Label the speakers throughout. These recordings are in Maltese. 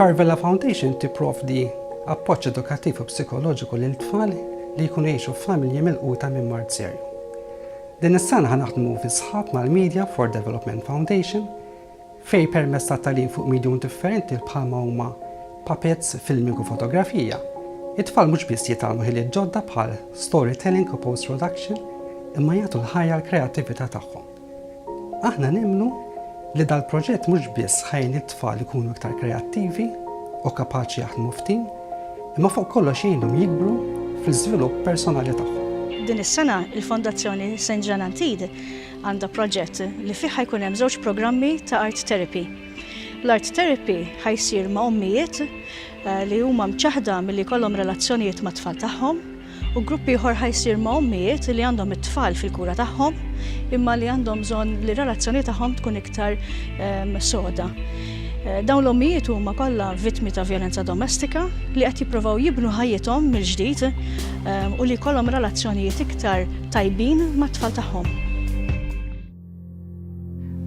Speaker 1: Carvella Foundation tipprovdi appoġġ edukattiv u psikoloġiku lil tfal li jkunu jgħixu f'familji milquta minn mard serju. Din is-sena ħa naħdmu fi sħab mal-Media for Development Foundation fejn permezz ta' tagħlim fuq medium differenti bħalma huma puppets, filming u fotografija, it-tfal mhux biss jitgħallmu ħiliet ġodda bħal storytelling u post-production imma jagħtu l-ħajja l-kreattività tagħhom. Aħna nemmnu li dal-proġett mhux biss ħa jgħin lit-tfal ikunu iktar kreattivi u kapaċi jaħdmu f'tim, imma fuq kollox jgħinhom jikbru fl-iżvilupp personali tagħhom. Din is-sena
Speaker 2: il-Fondazzjoni St. Jean Antide għandha proġett li fih ħajkun hemm żewġ programmi ta' art therapy. L-art therapy ħajsir ma' ommijiet eh, li huma mċaħda milli jkollhom relazzjonijiet mat-tfal tagħhom u grupp ieħor ħa jsir ma' ommijiet li għandhom it-tfal fil-kura tagħhom imma li għandhom bżonn li relazzjoni tagħhom tkun iktar ehm, soda. Eh, dawn l-ommijiet huma kollha vittmi ta' violenza domestika li qed jippruvaw jibnu ħajjithom mill-ġdid ehm, u li jkollhom relazzjonijiet iktar tajbin mat-tfal tagħhom.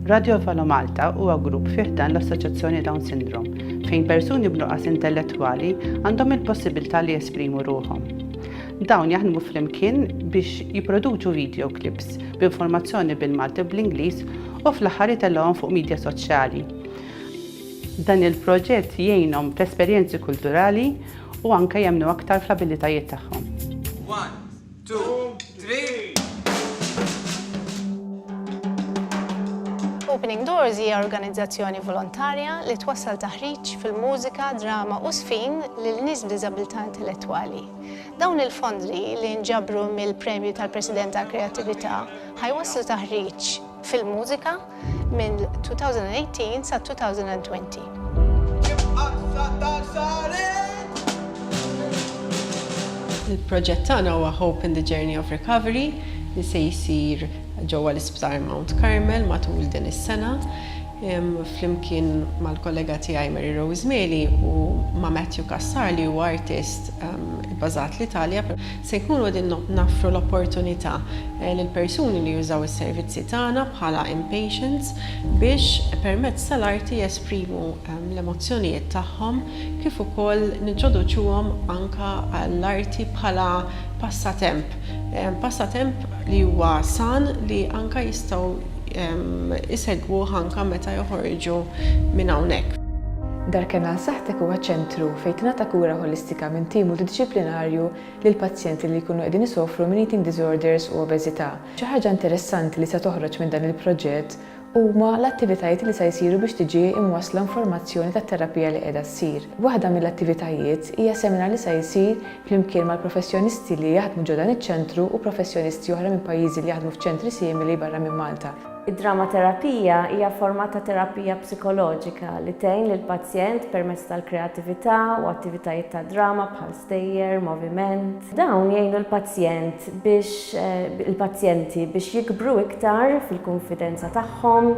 Speaker 3: Radio Valo Malta huwa grupp fi ħdan l-Assoċjazzjoni Down Syndrome fejn persuni b'nuqqas intellettwali għandhom il-possibilità li jesprimu ruħhom. Dawn jaħdmu flimkien biex jipproduċu video clips b'informazzjoni bil-Malti bl-Ingliż u fl-aħħar itellgħuhom fuq media soċjali. Dan il-proġett jgħinhom fl-esperjenzi kulturali u anke jemnu aktar fl-abilitajiet tagħhom.
Speaker 4: Opening Doors hija organizzazzjoni volontarja li twassal taħriġ fil-mużika, drama u sfin lil nies b'diżabilità intellettwali. Dawn il-fondi li nġabru mill-Premju tal-President tal-Kreattività ħajwasslu taħriġ fil-mużika, mill-2018 sal-2020.
Speaker 5: Il-proġett tagħna huwa Hope in the Journey of Recovery li se jsir ġewwa l-Isptar Mount Carmel matul din is-sena flimkien mal-kollega tiegħi Mary Rose Meli u ma' Matthew Cassar li huwa artist ibbażat l-Italja. Se jkunu qegħdin noffru l-opportunità lill-persuni li jużaw is-servizzi tagħna bħala in-patients biex permezz tal-arti jesprimu l-emozzjonijiet tagħhom kif ukoll nintroduċuhom anke għall-arti bħala passatemp, passatemp li huwa san li anke jistgħu isegwuh anke meta joħorġu minn hawnhekk. Darken għal
Speaker 6: Saħħtek huwa ċentru fejn tingħata kura ħolistika minn tim multidixxiplinarju lil pazjenti li jkunu qegħdin isofru minn eating disorders u obeżità. Xi ħaġa interessanti li se toħroġ minn dan il-proġett huma l-attivitajiet li se jsiru biex tiġi imwassla informazzjoni tat-terapija li qiegħda ssir. Waħda mill-attivitajiet hija seminar li se jsir flimkien mal-professjonisti li jaħdmu ġo dan iċ-ċentru u professjonisti oħra minn pajjiżi li jaħdmu f'ċentri simili barra minn Malta. Id-dramaterapija
Speaker 7: hija forma ta' terapija psikoloġika li tgħin lill-pazjent permezz tal-kreatività u attivitajiet ta' drama bħal stejjer, moviment. Dawn jgħinu l-pazjent biex il-pazjenti biex jikbru iktar fil-kunfidenza tagħhom,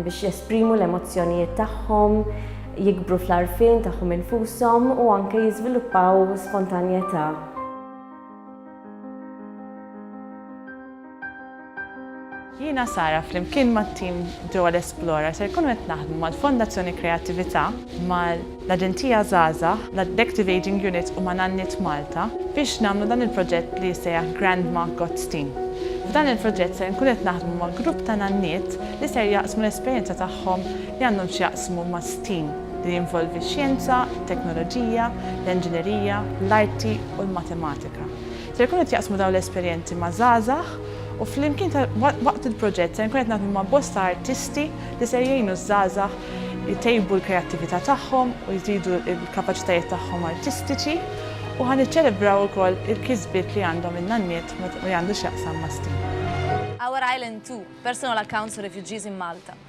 Speaker 7: biex jesprimu l-emozzjonijiet tagħhom, jikbru fl-għarfien tagħhom infushom u anke jiżviluppaw spontanjetà.
Speaker 8: Jiena Sara flimkien mat-tim ġewwa l-Esplora ser nkunu qed naħdmu mal-Fondazzjoni Kreattività, mal-Aġenzija Żgħażagħ, l-Adective Ageing Unit u ma' Nanniet Malta biex nagħmlu dan il-proġett li jissejjaħ Grandma Got's Team. F'dan il-proġett ser nkunu qed naħdmu ma' grupp ta' nanniet li ser jaqsmu l-esperjenza tagħhom li għandhom x'jaqsmu ma' stem li jinvolvi x-xjenza, it-teknoloġija, l-enġinerija, l-arti u l-matematika. Ser ikun qed jaqsmu dawn l-esperjenzi ma' żgħażagħ u flimkien waqt il-proġett ser nkun qed naħdmu ma' bosta artisti li ser jgħinu ż-żgħażagħ itejbu l-kreattività tagħhom u jżidu l-kapaċitajiet tagħhom artistiċi u ħa niċċelebraw ukoll il-kisbiet li għandhom in-nanniet f'dak li għandu x'jaqsam ma' stem. Our Island Too,
Speaker 9: Personal Accounts of Refugees in Malta,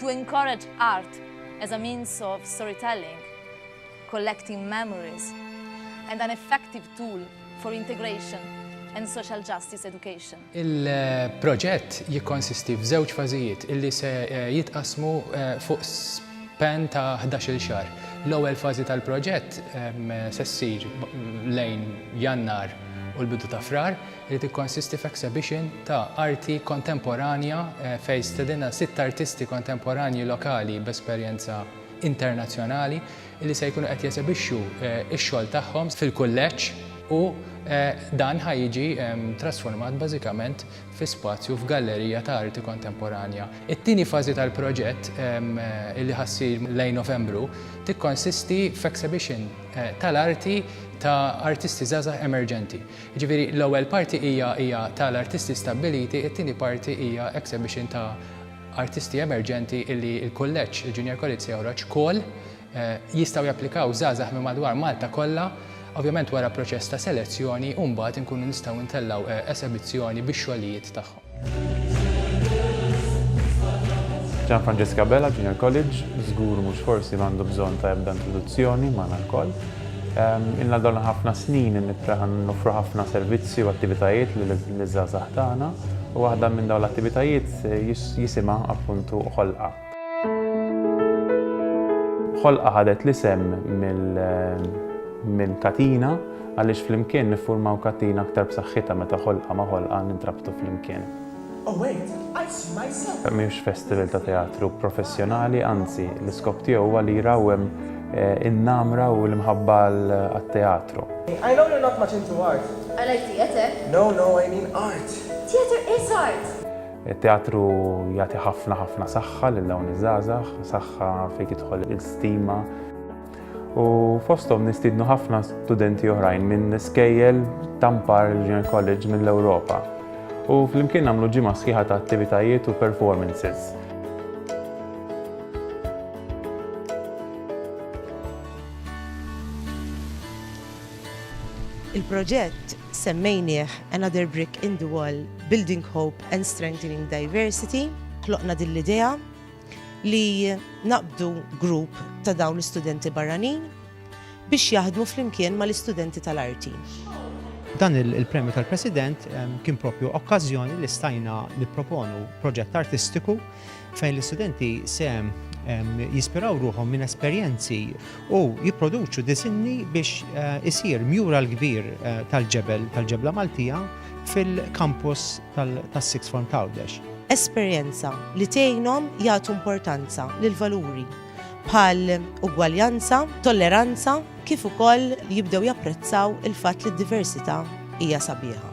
Speaker 9: To encourage art as a means of storytelling, collecting memories, and an effective tool for integration and social justice education. Il-proġett
Speaker 10: jikkonsisti f'żewġ fażijiet illi se eh, jitqasmu eh, fuq span ta' 11-il xahar. L-ewwel fażi tal-proġett ehm, se ssir lejn Jannar u l-bidu ta' Frar, li tikkonsisti f'exhibition ta' arti kontemporanja fejn stedinna sitt artisti kontemporanji lokali b'esperjenza internazzjonali li se jkunu qed jesebixxu x-xogħol tagħhom fil-Kulleġġ u dan ħa jiġi trasformat bażikament fi spazju f'gallerija ta' arti kontemporanja. It-tieni fażi tal-proġett li ħa ssir lejn Novembru tikkonsisti f'exhibition tal-arti ta' artisti żgħażagħ emerġenti. Jiġifieri l-ewwel parti hija hija ta' l-artisti stabbiliti, it-tieni parti hija exhibition ta' artisti emerġenti illi l-kulleġġ, il-Junior College se joħroġ call, jistgħu japplikaw żgħażagħ minn madwar Malta kollha, ovvjament wara proċess ta' selezzjoni u mbagħad inkunu nistgħu ntellgħu esebizzjoni bix-xogħlijiet tagħhom.
Speaker 11: Gian Francesca Bella, Junior College, żgur mhux forsi m'għandu bżonn ta' ebda introduzzjoni magħna lkoll. Ehm, Inna dawna ħafna snin nofru ħafna servizzi u attivitajiet li l-żgħażagħ tagħna u waħda minn dawn l-attivitajiet eh, jisimha appuntu ħolqa. Ħolqa ħadet l-isem minn katina għaliex flimkien niffurmaw katina aktar b'saħħitha meta ħolqa ma' ħolqa nintrabtu flimkien.
Speaker 12: Mhux festival ta'
Speaker 11: teatru professjonali, anzi, l-iskop tiegħu huwa li jrawwem in-namra u l-imħabba għat-teatru.
Speaker 12: Għalajk theatre?
Speaker 7: It-teatru
Speaker 11: jagħti ħafna ħafna saħħa lil dawn iż-żgħażagħ, saħħa fejn tidħol il-stima. U fosthom nistidnu ħafna studenti oħrajn minn skejjel tampar Junior College mill-Ewropa. U flimkien nagħmlu ġimgħa sħiħa ta' attivitajiet u performances. Il-proġett
Speaker 13: Semmejnieh, Another Brick in the Wall, Building Hope and Strengthening Diversity, ħloqna din l-idea li naqbdu grupp ta' dawn l-istudenti barranin biex jaħdmu flimkien mal-istudenti tal-arti. Dan
Speaker 14: il-Premju tal-President kien proprju okkażjoni li stajna nipproponu proġett artistiku fejn l-istudenti se jispiraw ruħom minn esperjenzi u jipproduċu disinni biex eh, isir mjura l-kbir eh, tal-ġebel tal-ġebla Maltija fil-kampus tas-Six Form Tawdex. Esperjenza
Speaker 13: li tgħinhom jagħtu importanza lil valuri bħal ugwaljanza, tolleranza, kif ukoll jibdew japprezzaw il-fatt li d-diversità hija sabiħa.